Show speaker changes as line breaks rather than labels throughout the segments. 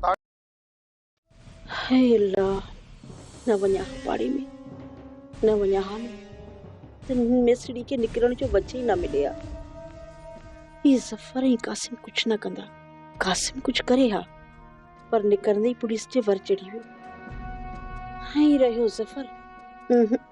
تاڪ. هاء الله! نه وڃان ها پاڙي ۾، نه وڃان ها ۾ ته هن ميسڙي کي نڪرڻ جو وجهه ئي نه ملي ها. هي ظفر ۽ قاسم ڪجهه نه ڪندا. قاسم ڪجهه ڪري ها، پر نڪرندي ئي پوليس جي ور چڙهي ويو. هنئين رهيو ظفر. اهه.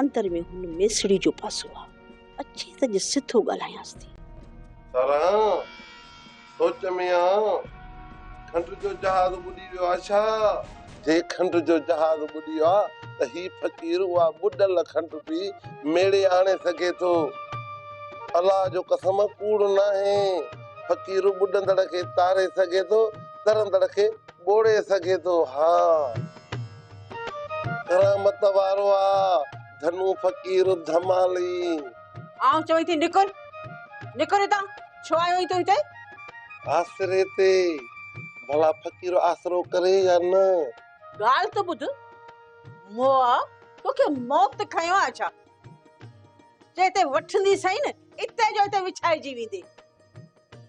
اندر ۾ هن ميسڙي جو پاسو آ. اچي ته اڄ سڌو ڳالهايانس ٿي. ساران،
سوچ ۾ آن، کنڊ جو جهاز ٻڏي ويو آ ڇا؟ جي کنڊ جو جهاز ٻڏيو آ ته هي فقير اها ٻڏل کنڊ به ميڙي آڻي سگهي ٿو. الله جو قسم ڪوڙ ناهي. فقير ٻڏندڙ کي تاري سگهي ٿو، ترندڙ کي ٻوڙي سگهي ٿو. ها! ڪرامت وارو آ ڌنو فقير ڌمالي. آئون
چوين ٿي نڪر نڪر هتان ڇو آيو آهين تون هتي. آسري
تي ڀلا فقير آسرو ڪري يا نه. ڳالهه ته
ٻڌ موآ توکي موت کنيو آهي ڇا جي هتي وٺندي سهي نه اتي جو اتي وڇائجي ويندي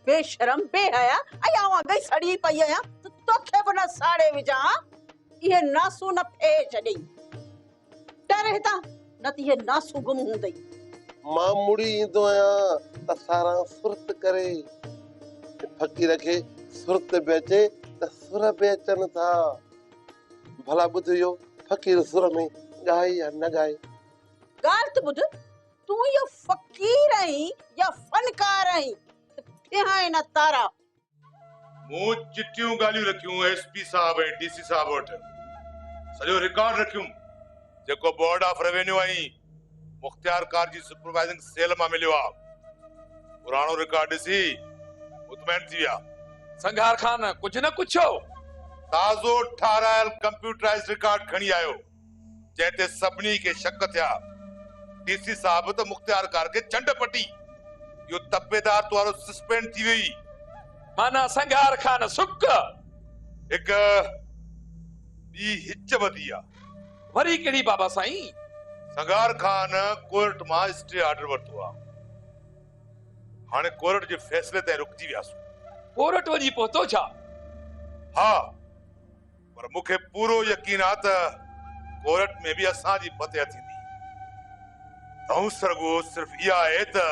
بي شرم بي حيا ۽ آئون اڳ ئي سڙي پئي آهيان ته توکي به نه ساڙي وجهان ها. اهي ناسون نه ڦئي ڇڏيئي. ٽر هتان، نه ته اهي ناسون گم هوندئي. مان
مڙي ايندو آهيان ته ساران سرت ڪري. جي فقير کي سرت به اچي ته سر به اچن ٿا. ڀلا ٻڌ اهو فقير سر ۾ ڳائي يا نه ڳائي. ڳالهه ته
ٻڌ، تون اهو فقير آهين يا فنڪار آهين ته ڦيهائين نه تارا. مون
چٽيون ڳالهيون رکيون ايس پي صاحب ۽ ڊي سي صاحب وٽ سڄو رڪارڊ رکيم جيڪو بورڊ آف روينيو ۽ مختيار ڪار جي سپروائزنگ سيل مان مليو آ پراڻو رڪارڊ ڏسي مطمئن ٿي ويا. سنگهار خان
ڪجهه نه ڪڇيو. تازو
ٺاهرايل ڪمپيوٽرائيزڊ رڪارڊ کڻي آيو. جنهن تي سڀني کي شڪ ٿيا. ڊي سي صاحب ته مختيار ڪار کي چنڊ پٽي، اهو تپيدار توارو سسپينڊ ٿي ويئي. معنيٰ
سنگهار خان سڪ. هڪ
ٻي هچ وڌي آ. وري ڪهڙي بابا
سائين؟ سنگهار
خان ڪورٽ مان اسٽي آرڊر ورتو آ. هاڻي ڪورٽ جي فيصلي تائين رڪجي وياسون. ڪورٽ وڃي
پهتو ڇا؟ ها.
پر مون کي پورو يقين آ ته ڪورٽ ۾ به اسان جي فتح ٿيندي. دنهس رڳو صرف اها آهي ته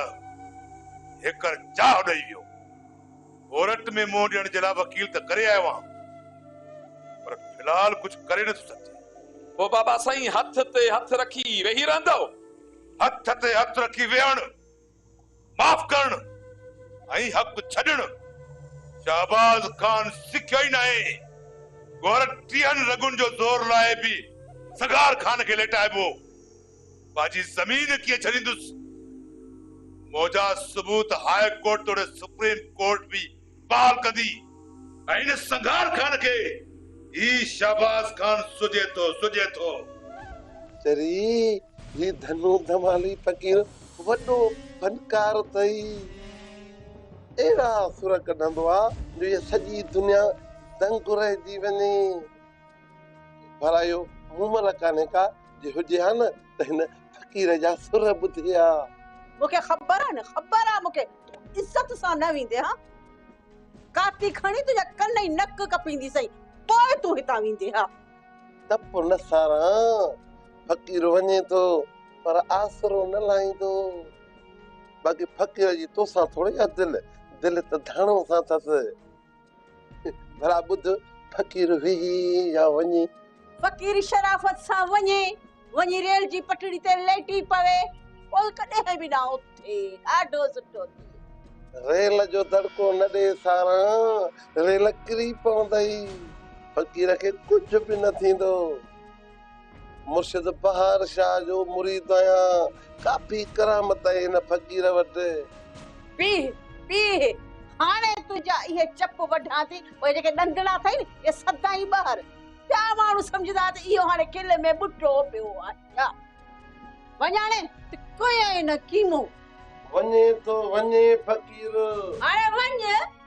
هيڪر چاهه ڏئي ويو. ڪورٽ ۾ منهن ڏيڻ جي لاء وڪيل ته ڪري آيو آهيان پر في الحال ڪجهه ڪري نه ٿو سگهجي. پوء بابا
سائين هٿ تي هٿ رکي ويهي رهندؤ؟ هٿ
تي هٿ رکي ويهڻ؟ معاف ڪرڻ ۽ حق ڇڏڻ شهباز خان سکيو ئي ناهي، گهر ٽيهن رڳن جو زور لاهي به سگهار خان کي ليٽائبو، پنهنجي زمين ڪيئن ڇڏيندس؟ موجا ثبوت هاء ڪورٽ توڙي سپريم ڪورٽ به بحال ڪندي ۽ ان سنگھار خان کي هي شهباز خان سجهي ٿو سجهي ٿو. چري
هي ڌنو ڌمالي فقير وڏو فنڪار اٿئي. اهڙا سر ڪڍندو آ جو هيء سڄي دنيا دنگ رهجي وڃي. ڀرائيو مومل ڪانهي ڪا جي هجي ها نه ته هن فقير جا سر ٻڌي ها. مون کي خبر
آ نه خبر آ مون کي تون عزت سان نه ويندي ها ڪاٺي کڻي تنهنجا ڪن ۽ نڪ ڪپيندي سائين پوء تون هتان ويندي ها تپ نه
ساران فقير وڃي ٿو پر آسرو نه لاهيندو باقي فقير جي توسان ٿوري آ دل دل ته ڌڻو سان اٿس ڀلا ٻڌ فقير ويهي يا وڃي. فقير
شرافت سان وڃي، وڃي ريل جي پٽڙي تي ليٽي پوي، پوء ڪڏهن به نه اٿي، ڏاڍو سٺو ٿئي. ريل
جو دڙڪو نه ڏي ساران، ريل ڪري پوندئي، فقير کي ڪجهه به نه ٿيندو. مرشد بهار شاهه جو مريد آهيان. ڪافي ڪرامت آهي هن فقير وٽ. پيهه پيهه
هاڻي تنهنجا اهي چپ وڍان ٿي. اهي جيڪي ڏندڙا اٿئي نه اهي سدائين ٻاهر. ٻيا ماڻهو سمجهندا ته اهو هاڻي کل ۾ ٻٽو پيو آهي ڇا. وڃاڻي ته ڪيئي نه ڪيمو. وڃي
ٿو وڃي فقير. هاڻي وڃ.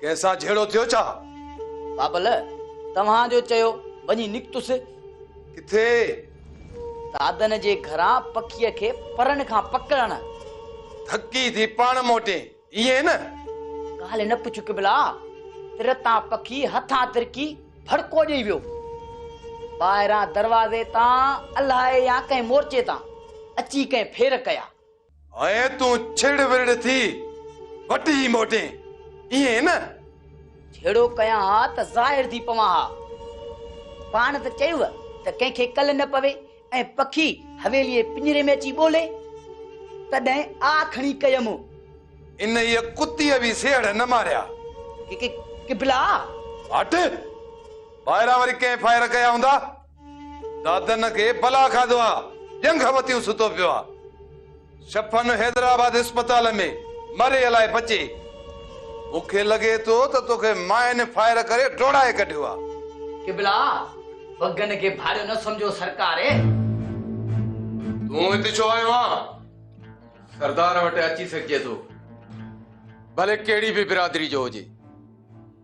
ڪنهن سان جهيڙو ٿيو ڇا؟ بابل،
توهان جو چيو وڃي نڪتس. ڪٿي؟ دادن جي گهران پکيء کي پرن کان پڪڙڻ. ٿڪي
ٿي پاڻ موٽين، ائين نه؟ ڳالهه
نه پڇ قبلا، تر تان پکي هٿان ترڪي ڀڙڪو ڏيئي ويو. ٻاهران دروازي تان الائي يا ڪنهن مورچي تان اچي ڪنهن ڦير ڪيا. هيء تون
ڇڙ ورڙ ٿي وٽجي موٽين، ائين نه؟ جهيڙو
ڪيان ها ته ظاهر ٿي پوان ها. پاڻ ته چيوء ته ڪنهن کي ڪل نه پوي ۽ پکي حويليء پڃري ۾ اچي ٻولي، تڏهن آء کڻي ڪيم. انهيء
ڪتيء به سيهڙ نه ماريا. ڪي ڪي
قبلا! هٽ!
ٻاهران وري ڪنهن فائر ڪيا هوندا. دادن کي بلا کاڌو آ، ڄنگهه وتيون ستو پيو آ. شفن حيدرآباد اسپتال ۾ مري الائي بچي. مون کي لڳي ٿو ته توکي مائن فائر ڪري ڊوڙائي ڪڍيو آ. قبلا!
وڳن کي ڀاڙيو نه سمجهو سرڪار.
تون هت ڇو آيو آن؟ سردار
وٽ اچي سگهجي ٿو. ڀلي ڪهڙي به برادري جو هجي.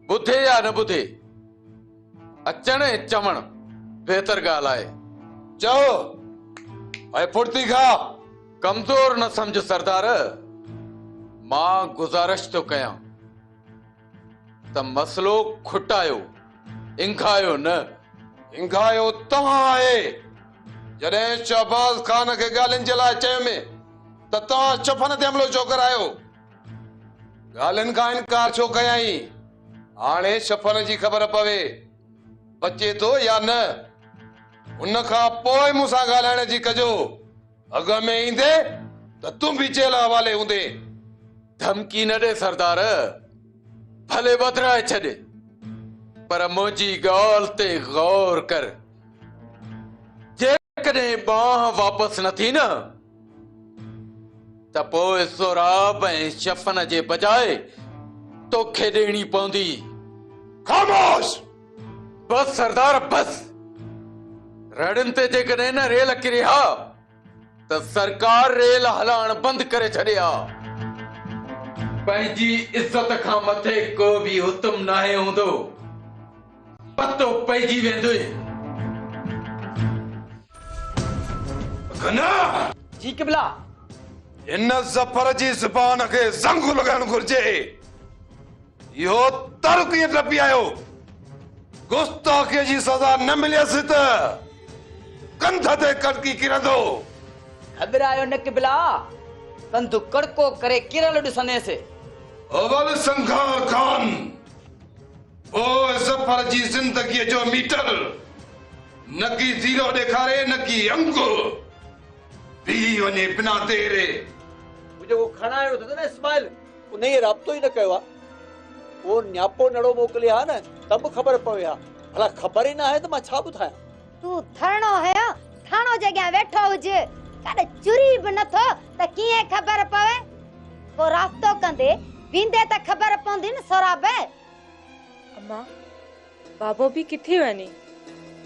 ٻڌي يا نه ٻڌي. اچڻ ۽ چوڻ بهتر ڳالهه آهي. چئو
اي ڦڙتي کان. ڪمزور
نه سمجهه سردار، مان گذارش ٿو ڪيان ته مسئلو کٽايو، انگهايو نه. انگهايو
توهان آهي. جڏهن شهباز خان کي ڳالهين جي لاء چيم ته توهان چپن تي حملو ڇو ڪرايو؟ ڳالهين کان انڪار ڇو ڪيائين؟ هاڻي شفن جي خبر پوي، بچي ٿو يا نه، ان کان پوء مون سان ڳالهائڻ جي ڪجو. اڳ ۾ ايندين ته تون به جيل حوالي هوندين. ڌمڪي
نه ڏي سردار، ڀلي وڌرائي ڇڏ، پر منهنجي ڳالهه تي غور ڪر. جيڪڏهن بانهن واپس نه ٿي نه ته پوء سهراب ۽ شفنه جي بجاء توکي ڏيڻي پوندي. خاموش! بس سردار بس! رڙين تي جيڪڏهن نه ريل ڪري ها ته سرڪار ريل هلائڻ بند ڪري ڇڏي ها. پنهنجي عزت کان مٿي ڪو به حتم ناهي هوندو. پتو پئجي ويندوئي.
گناھ! جي قبله!
هن
ظفر جي زبان کي زنگ لڳائڻ گهرجي. اهو تر ڪيئن ٽپي آيو؟ گستاخيء جي سزا نه مليس ته ڪنڌ تي ڪڙڪي ڪرندو. گهٻرايو
نه قبله! ڪنڌ ڪڙڪو ڪري ڪرڻ ڏسندينس. اول
سنگھار خان! او ظفر جي زندگيء جو ميٽر نه ڪي زيرو ڏيکاري نه ڪي انڪ، بيهي وڃي بنا ديري. هو جيڪو
کڻائڻ ويو اٿس نه اسماعيل انهيء رابطو ئي نه ڪيو آ، اهو نياپو نڙو موڪلي ها نه ته به خبر پوي ها، ڀلا خبر ئي ناهي ته مان ڇا ٻڌايان. تون ٿرڻو
هيو، ٿرڻو جي اڳيان ويٺو هج، ڪڏ چري به نه ٿو ته ڪيئن خبر پوي. ڪو رابطو ڪندي ويندي ته خبر پوندي نه سهراب.
امان، بابو به ڪٿي وڃي؟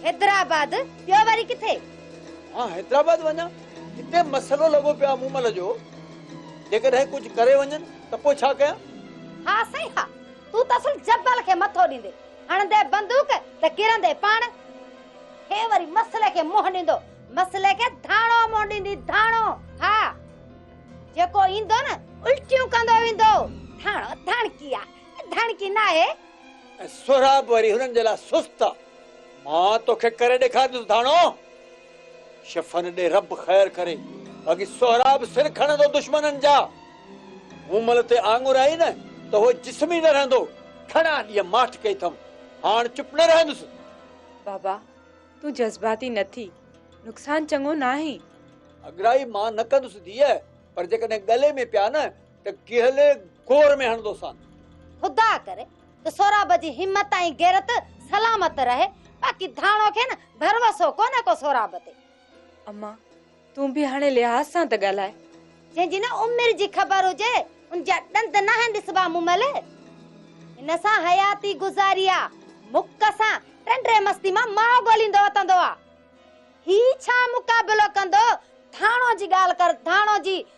حيدرآباد،
ٻيو وري ڪٿي؟ مان
حيدرآباد وڃان؟ هتي مسئلو لڳو پيو آهي مومل جو، جيڪڏهن ڪجهه ڪري وڃن ته پوء ڇا ڪيان؟ ها سائين ها،
تون ته اصل جبل کي مٿو ڏيندي، هڻندي بندوق ته ڪرندي پاڻ. هي وري مسئلي کي منهن ڏيندو، مسئلي کي ڌاڻو منهن ڏيندي، ڌاڻو. ها، جيڪو ايندو نه الٽيون ڪندو ويندو. ڌاڻو ڌاڻڪي آهي. ڌڻ ڪي ناهي. ۽ سهراب
وري هنن جي لاء سست آ. مان توکي ڪري ڏيکاريندس ڌڻو. شفن ڏي رب خير ڪري. باقي سهراب سر کڻندو دشمنن جا. مون مل تي آڱر آئي نه ته هو جسم ئي نه رهندو. گهڻا ڏينهن ماٺ ڪئي اٿم. هاڻ چپ نه رهندس. بابا
تون جذباتي نه ٿي. نقصان چڱو ناهي. اڳرائي
مان نه ڪندس ڌيء. پر جيڪڏهن ڳلي ۾ پيا نه ته ڪهلي گور ۾ هڻندوسان. خدا ڪري
ته سهراب جي همت ۽ غيرت سلامت رهي، باقي ڌاڻو کي نه ڀروسو ڪونهي ڪو سهراب تي. امان
تون به هاڻي لحاظ سان ته ڳالهاء. جنهن جي نه
عمر جي خبر هجي ان جا ڏند ناهن ڏسبا مون مئل هن سان حياتي گذاري آ مک سان ٽنڊي مستي مان ماء ڳوليندو وتندو آ هي ڇا مقابلو ڪندو ڌاڻو جي ڳالهه ڪر ڌاڻو جي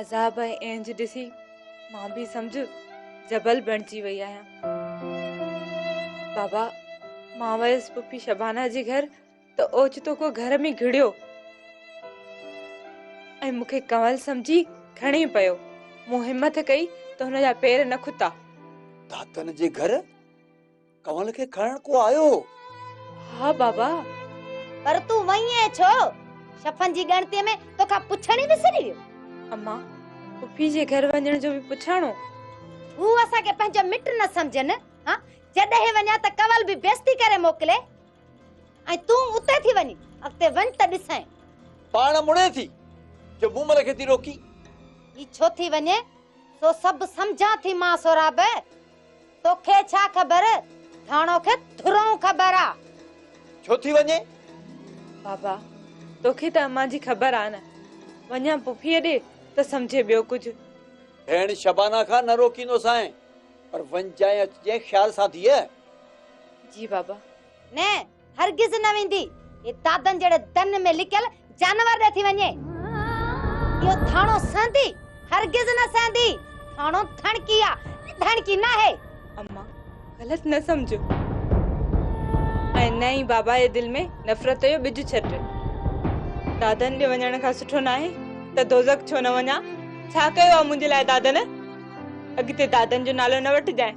عذاب ۽ اهنج ڏسي مان به سمجھ جبل بڻجي وئي آهيان بابا مان ويس پپي شبانا جي گھر ته اوچتو ڪو گھر ۾ گھڙيو ۽ مون کي ڪنول سمجھي کڻي پيو مون همٿ ڪئي ته هن جا پير نه کتا داتن
جي گھر ڪنول کي کڻڻ ڪو آيو هو؟ ها
بابا. پر
تون وئين ائين ڇو؟ شفن جي ڳڻتي ۾ توکان پڇڻ ئي وسري ويو. اما،
پڦي جي گهر وڃڻ جو به پڇاڻو؟ هو اسان
کي پنهنجو مٽ نه سمجهن ها؟ جڏهن وڃان ته ڪنول به بيستي ڪري موڪلي ۽ تون اتي ٿي وڃين. اڳتي وڃ ته ڏسين. پاڻ مڙي
ٿي جو مون مل کي ٿي روڪي. هي ڇو
ٿي وڃي سو سڀ سمجهان ٿي مان سهراب. توکي ڇا خبر ڌاڻو کي ٿرون خبر آ. ڇو ٿي
وڃين؟ بابا
توکي ته امان جي خبر آ نه وڃان پڦيء ڏي ته سمجهي ٻيو ڪجهه. ڀيڻ
شبانه کان نه روڪيندو سانء پر وڃجانء اچجانء خيال سان ڌيء. جي
بابا. نه
هرگز نه ويندي. هي دادن جهڙي دن ۾ لڪيل جانور ڏي ٿي وڃي. اهو ٿاڻو سهندي؟ هرگز نه سهندي. ٿاڻو ڌڻڪي آ، ڌڻڪي ناهي. اما
غلط نه سمجهو ۽ نه ئي بابا جي دل ۾ نفرت جو ٻج ڇٽ. دادن ڏي وڃڻ کان سٺو ناهي ته دوزخ ڇو نه وڃان. ڇا ڪيو آ منهنجي لاء دادن؟ اڳتي دادن جو نالو نه وٺجانء.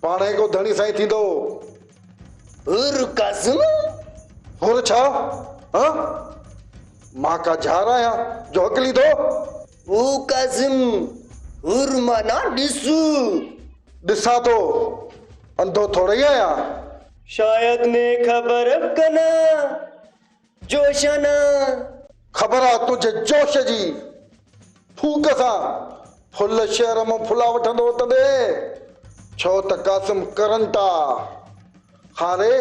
پاڻ هيڪو ڌڻي سائين ٿيندو.
حر ڪازم! حر
ڇا؟ هان؟ مان ڪا جهار آهيان جو حق ليڌو؟ او
ڪازم! حر معنيٰ ڏس. ڏسان
ٿو، انڌو ٿورئي آهيان. شايد
مين خبر ڪنان جوش آنان.
خبر آ تنهنجي جوش جي. ڦوڪ سان ڦل شهر مان ڦلا وٺندو تڏهن ڇو ته قاسم ڪرنٽ آ. هاري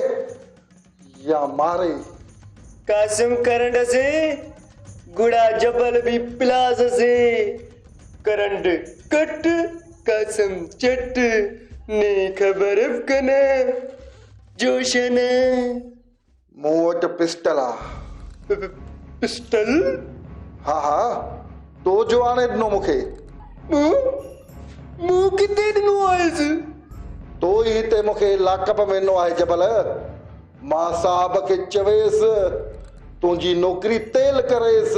يا ماري. قاسم
ڪرنٽ اسين گڙا جبل به پلاس اسين ڪرنٽ ڪٽ قاسم چٽ ني خبر ف ڪنه جوش آنان.
مون وٽ پسٽل آ.
پسٽل؟
ها ها، تو جو آڻي ڏنو مون کي. مون؟
مون ڪٿي ڏنو آهيس؟ تو
ئي هتي مون کي لاڪ اپ ۾ ڏنو آهي جبل. مان صاحب کي چويس تنهنجي نوڪري تيل ڪريس.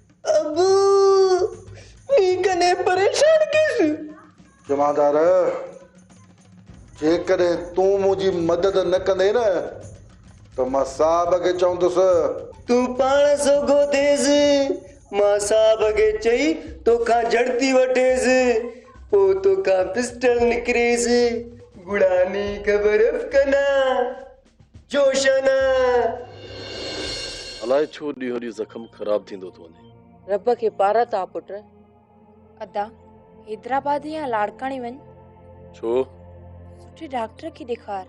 ابو!
مين ڪڏهن پريشان ڪيس؟ جمعدار!
جيڪڏهن تون منهنجي مدد نه ڪندين نه ته مان صاحب کي چوندس. تون پاڻ
سوگهو ٿيس، مان صاحب کي چئي توکان جڙتي وٺيس، پوء توکان پسٽل نڪريس، گڙاني خبر ڪنان. جوشن.
الائي ڇو ڏينهون ڏينهن زخم خراب ٿيندو ٿو وڃي. رب کي پار ٿا
پٽ. ادا حيدرآباد يا
لاڙڪاڻي
وڃ. ڇو؟ سٺي ڊاڪٽر کي ڏيکار.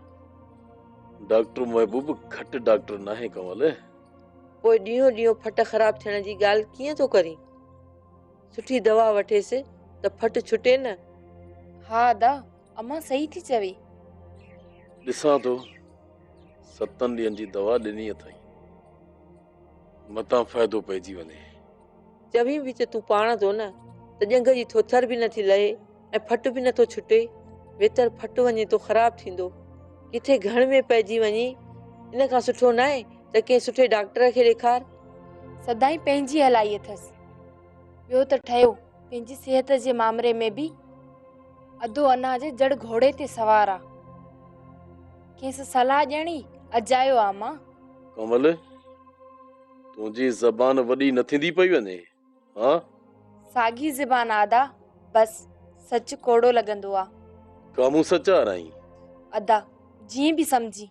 ڊاڪٽر محبوب گهٽ ڊاڪٽر ناهي ڪنول. پوء
ڏينهون ڏينهون ڦٽ خراب ٿيڻ جي ڳالهه ڪيئن ٿو ڪرين. سٺي دوا وٺيس ته ڦٽ ڇٽي نه. ها ادا
امان صحيح ٿي چوي.
ڏسان ٿو ستن ڏينهن جي دوا ڏني اٿئي متان فائدو پئجي وڃي. چوين به
ته تون پاڻ ٿو نه ته ڄنگهه جي ٿوٿر به نٿي لهي ۽ ڦٽ به نٿو ڇٽي ويتر ڦٽ وڃي ٿو خراب ٿيندو ڪٿي گهڻ ۾ پئجي وڃي ان کان سٺو ناهي ته ڪنهن سٺي ڊاڪٽر کي ڏيکار. سدائين
پنهنجي هلائي اٿس ٻيو ته ٺهيو پنهنجي صحت جي مامري ۾ به. ادو انا جي جڙ گهوڙي تي سوار آ کيس صلاح ڄڻي اجايو آ مان. ڪنول
تنهنجي زبان وڏي نه ٿيندي پئي وڃي ها. ساڳي
زبان آدا بس سچ ڪوڙو لڳندو آ. ڪا مون سچ
آرائين. ادا
جيئن به سمجهين.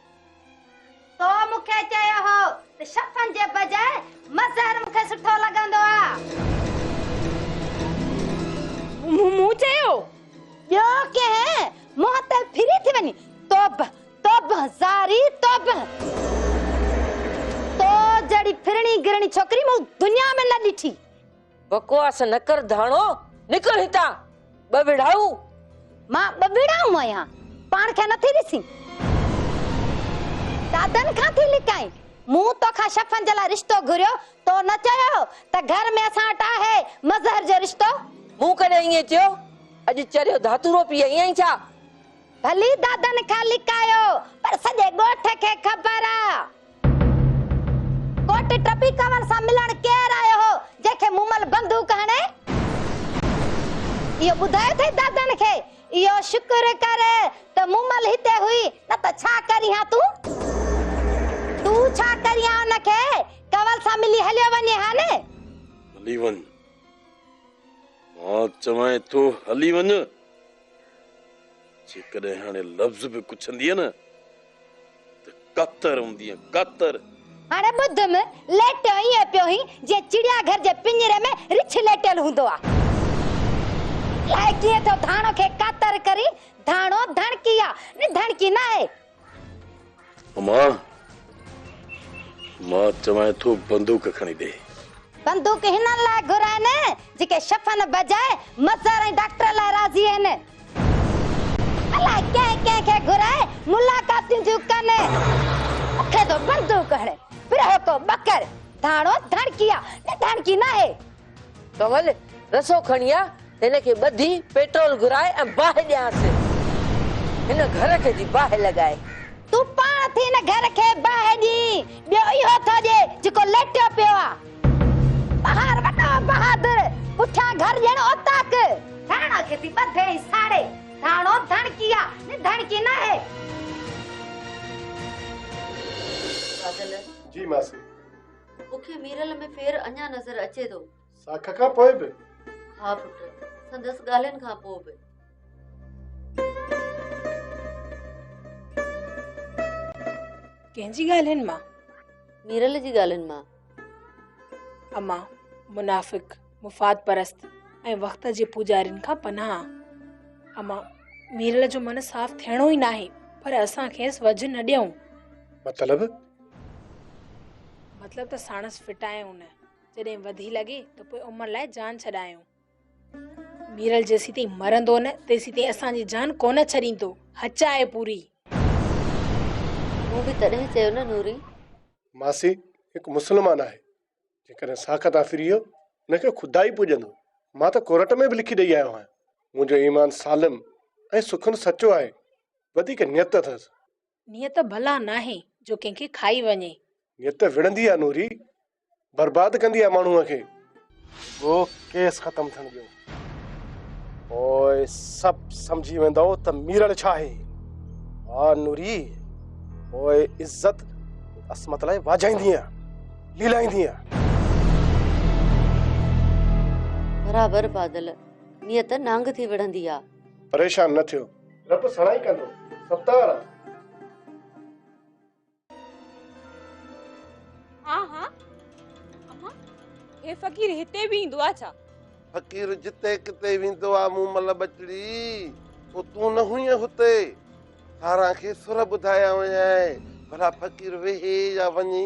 تو مون کي چيو هو ته شفن جي بجاء مظهر مون کي سٺو لڳندو آ.
مون چيو ٻيو
ڪنهن منهن تي ڦري ٿي وڃي. توبه توبه زاري توبه. تو جهڙي ڦرڻي گرڻي ڇوڪري مون دنيا ۾ نه ڏٺي. بڪواس
نه ڪر ڌاڻو، نڪر هتان، ٻه وڙهائو. مان ٻه
وڙهائو آهيان، پاڻ کي نٿي ڏسين؟ دادن کان ٿي لڪائين؟ مون توکان شفن جي لاء رشتو گهريو، تو نه چيو هو ته گهر ۾ اسان وٽ آهي مظهر جو رشتو؟ مون ڪڏهن ائين
چيو؟ اڄ چريو ڌاتورو پي آئي آهين ڇا؟ ڀلي
دادن کان لڪايو، پر سڄي ڳوٺ کي خبر آ. ڪوٽ ٽپي ڪنور سان ملڻ ڪير آيو هو، جنهن کي مومل بندوق هڻي اهو ٻڌايو اٿئي دادن کي، اهو شڪر ڪر ته مومل هتي هئي، نه ته ڇا ڪرين ها تون؟ تون ڇا ڪرين ها ان کي؟ ڪنور سان ملي هليو وڃين ها نه؟ هلي وڃ،
مان چوانء ٿو هلي وڃ، جيڪڏهن هاڻي لفظ به پڇندينء نه، ڪتر هوندي آهي ڪتر. هاڻي ٻڌ
م ليٽيو ائين پيو هين جيئن چڙيا گهر جي پڃري ۾ رڇ ليٽيل هوندو آ. الاء ڪيئن ٿيو ڌاڻو کي ڪتر ڪري ڌاڻو ڌڻڪي آ ني ڌڻڪي ناهي. اما
مان چوانء ٿو بندوق کڻي ڏي. بندوق
هنن لاء گهرائين جيڪي شفن بجاء مزار ۽ ڊاڪٽر لاء راضي آهن. الاء ڪنهن ڪنهن کي گهرائي ملاقاتون ٿيون ڪن. اکي ٿو بندوق هڻي پرهوڪو ٻڪر ڌاڻو ڌڻڪي آ نه ڌڻڪي ناهي. ڪنول
رسو کڻي آ هن کي ٻڌي پيٽرول گهرائي ۽ باهه ڏيانس هن گهر کي جي باهه لڳائي. تون پاڻ
ٿي هن گهر کي باهه ڏين ٻيو اهو ٿو ڏي جيڪو ليٽيو پيو آ. بهار وڏو بهادر، پٺيان گهر ڄڻ اوطاق. ڌڻ کي ٿي ٻڌي ۽ ساڙي، ڌاڻو ڌڻڪي آ، ني ڌڻڪي ناهي.
فاضل! جي ماسي.
مون کي
ميرل ۾ ڦير اڃا نظر اچي ٿو. ساک کان پوء
به؟ ها پٽ،
سندس ڳالهين کان پوء به.
ڪنهن جي ڳالهين مان؟ ميرل جي
ڳالهين مان.
امان، منافق، مفاد پرست ۽ وقت جي پوڄارين کان پناهه. امان، ميرل جو من صاف ٿيڻو ئي ناهي پر اسان کيس وجهه نه ڏيون. مطلب؟ مطلب ته ساڻس ڦٽايون نه، جڏهن وڌي لڳي ته پوء عمر لاء جان ڇڏايون. ميرل جيسين تائين مرندو نه تيسين تائين اسان جي جان ڪونه ڇڏيندو. هچ آهي پوري. مون
به تڏهن چيو نه نوري. ماسي
هڪ مسلمان آهي جيڪڏهن ساخت آ فريو ان کي خدا ئي پوڄندو مان ته ڪورٽ ۾ به لکي ڏئي آيو آهيان منهنجو ايمان سالم ۽ سخن سچو آهي وڌيڪ نيت اٿس نيت ڀلا
ناهي جو ڪنهن کي کائي وڃي. نيت وڙهندي
آ نوري برباد ڪندي آ ماڻهوء کي. رڳو ڪيس ختم ٿيڻ ڏيو پوء سڀ سمجهي ويندو ته ميرل ڇا آهي ها نوري پوء عزت عصمت لاء واجهائيندينء ليلائيندينء
برابر بادل نيت نانگ ٿي وڙهندي آ پريشان نه ٿيو
رب سڻائي ڪندو ستار
ها ها اما هي فقير هتي به ايندو آ ڇا فقير جتي
ڪتي ويندو آ مون مل بچڙي او تون نه هئين هتي سارا کي سر ٻڌايا ويا آهي ڀلا فقير ويهي يا وڃي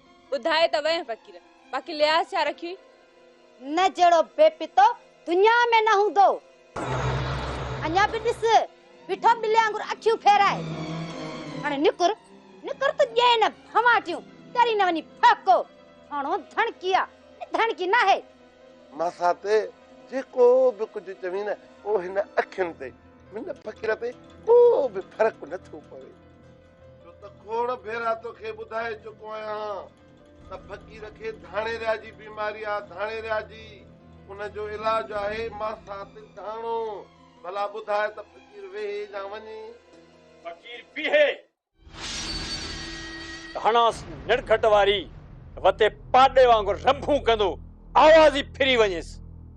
ٻڌائي
ته ويهه فقير، باقي لحاظ ڇا رکيئي؟ نه
جهڙو بي پتو دنيا ۾ نه هوندو. اڃا به ڏس، بيٺو ٻلي وانگر اکيون ڦيرائي. هاڻي نڪر، نڪر ته ڄين نه ڀنواٽيون، ٽري نه وڃي ڦهڪو. ٿانو ڌڻڪي آ، ڌڻڪي ناهي. ماسات،
جيڪو به ڪجهه چوين نه، پوء هن اکين تي، هن فقير تي ڪو به فرق نٿو پوي. ڇو ته کوڙ ڀيرا توکي ٻڌائي چڪو آهيان ته فقير کي ڌاڻيريا جي بيماري آهي ڌاڻيريا جي ان جو علاج آهي ماسات ڌاڻو ڀلا ٻڌاء ته فقير ويهي يا وڃي فقير
بيهي ڌاڻاس نڙگهٽ واري وتي پاڏي وانگر رنڀون ڪندو آواز ئي ڦري وڃيس.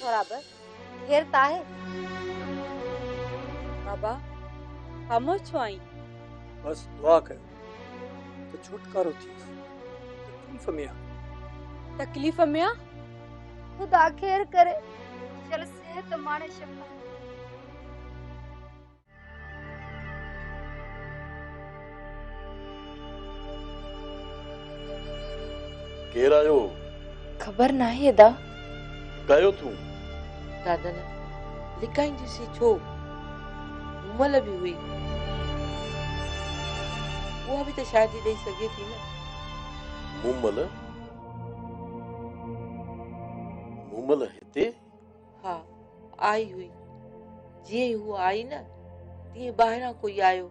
سهراب،
خير ته آهي؟
بابا، خاموش ڇو آهين؟ بس دعا
ڪيو ته ڇوٽڪارو ٿئيس. تڪليف ۾ آهي. تڪليف ۾ آهي؟
خدا
خير ڪري. شل صحت ماڻي شفا.
ڪير آيو هو؟ خبر
ناهي ادا. ڪهيو
ٿو؟ دادن،
لڪائينديسين ڇو؟ مومل به هئي. اها به ته شاهدي ڏئي سگهي ٿي نه. مومل؟
مومل هتي؟ ها،
آئي هئي. جيئن ئي هوء آئي نه، تيئن ٻاهران ڪوئي آيو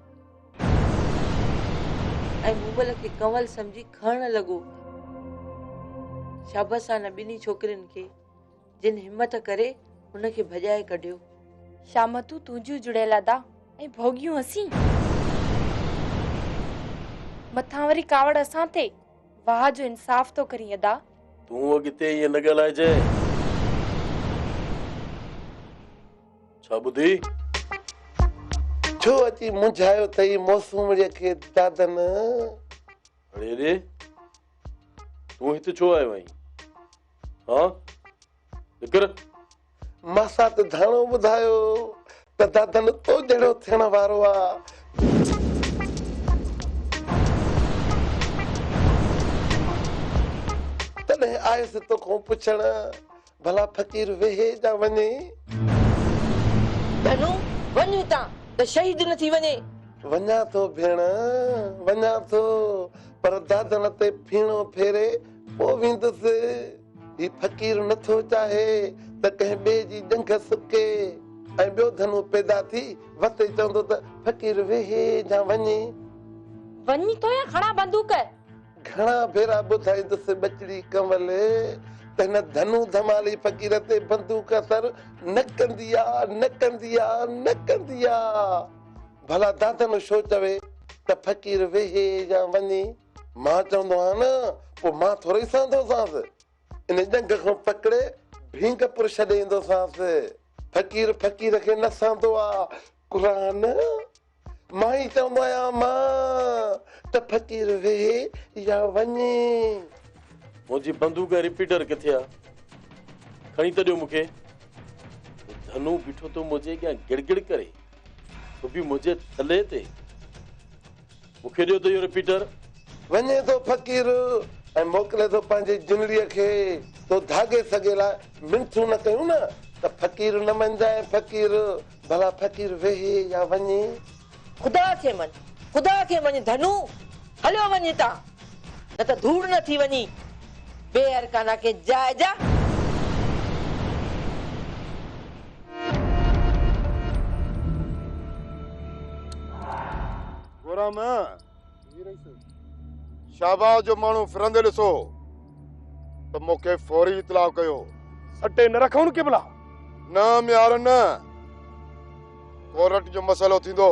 ۽ مومل کي ڪنول سمجهي کڻڻ لڳو. شابس آهن ٻنهي ڇوڪرين کي، جن همت ڪري هن کي ڀڄائي ڪڍيو. شامتون
تنهنجيون جڙيل ادا ۽ ڀوڳيون اسين. مٿان وري ڪاوڙ اسان تي. واهه جو انصاف ٿو ڪرين ادا. تون اڳتي
ائين نه ڳالهائجانء. ڇا ٻڌي؟
ڇو اچي منجهايو اٿئي موسومڙيء کي دادن؟
اڙي ري! تون هت ڇو آيو آهين؟ هان! نڪر!
ماسات ڌڻو ٻڌايو ته دادن تو جهڙو ٿيڻ وارو آ. تڏهن آيس توکون پڇڻ ڀلا فقير ويهي جا وڃي.
ڌڻو وڃ اتان ته شهيد نه ٿي وڃي. وڃان ٿو
ڀيڻ وڃان ٿو پر دادن تي ڦيڻو ڦيري پوء ويندس. هي فقير نه ٿو چاهي ته ڪنهن ٻئي جي ڄنگهه سڪي ۽ ٻيو ڌنو پيدا ٿي وتي چوندو ته فقير ويهي جا وڃي. وڃي
ٿو يا کڻان بندوق؟ گهڻا
ڀيرا ٻڌائيندس ٻچڙي ڪنول ته هن ڌنو ڌمالي فقير تي بندوق اثر نه ڪندي آ، نه ڪندي آ، نه ڪندي آ. ڀلا دادن شو چوي ته فقير ويهي جا وڃي. مان چوندو آهيان نه، پوء مان ٿورئي سان ٿوسانس. ان ڄنگهه کان پڪڙي ڀينگ پور ڇڏي ايندوسانس. فقير فقير کي نه سهندو آ. قرآن مان ئي چوندو آهيان مان ته فقير ويهي يا وڃي.
منهنجي بندوق ۽ رپيٽر ڪٿي آ؟ کڻي ته ڏيو مون کي. هو ڌنو بيٺو ٿو منهنجي اڳيان گڙ گڙ ڪري. ڦٻي منهنجي تلي تي. مون کي ڏيو ته اهو رپيٽر. وڃي ٿو
فقير ۽ موڪلي ٿو پنهنجي جنڙيء کي، تو ڌاڳي سڳي لاء منٿون نه ڪيون نه ته فقير نه مڃجانء فقير، ڀلا فقير ويهي يا وڃي. خدا
کي مڃ، خدا کي مڃ ڌنو، هليو وڃ هتان، نه ته ڌوڙ نه ٿي وڃي، بي ارڪانا کي جاء جاء.
گورام، جي رئيس. شاهباز جو ماڻهو ڦرندي ڏسو ته مون کي فوري اطلاع ڪيو. سٽي نه
رکون قبلا. نه ميار
نه. ڪورٽ جو مسئلو ٿيندو.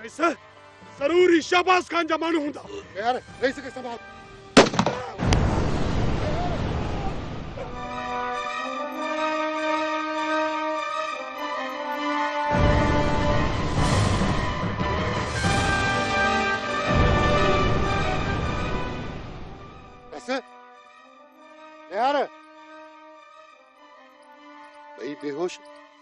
رئيس ضرور هي شهباز خان جا ماڻهو هوندا. يار رئيس کي
سنڀال. ٻئي بيهوش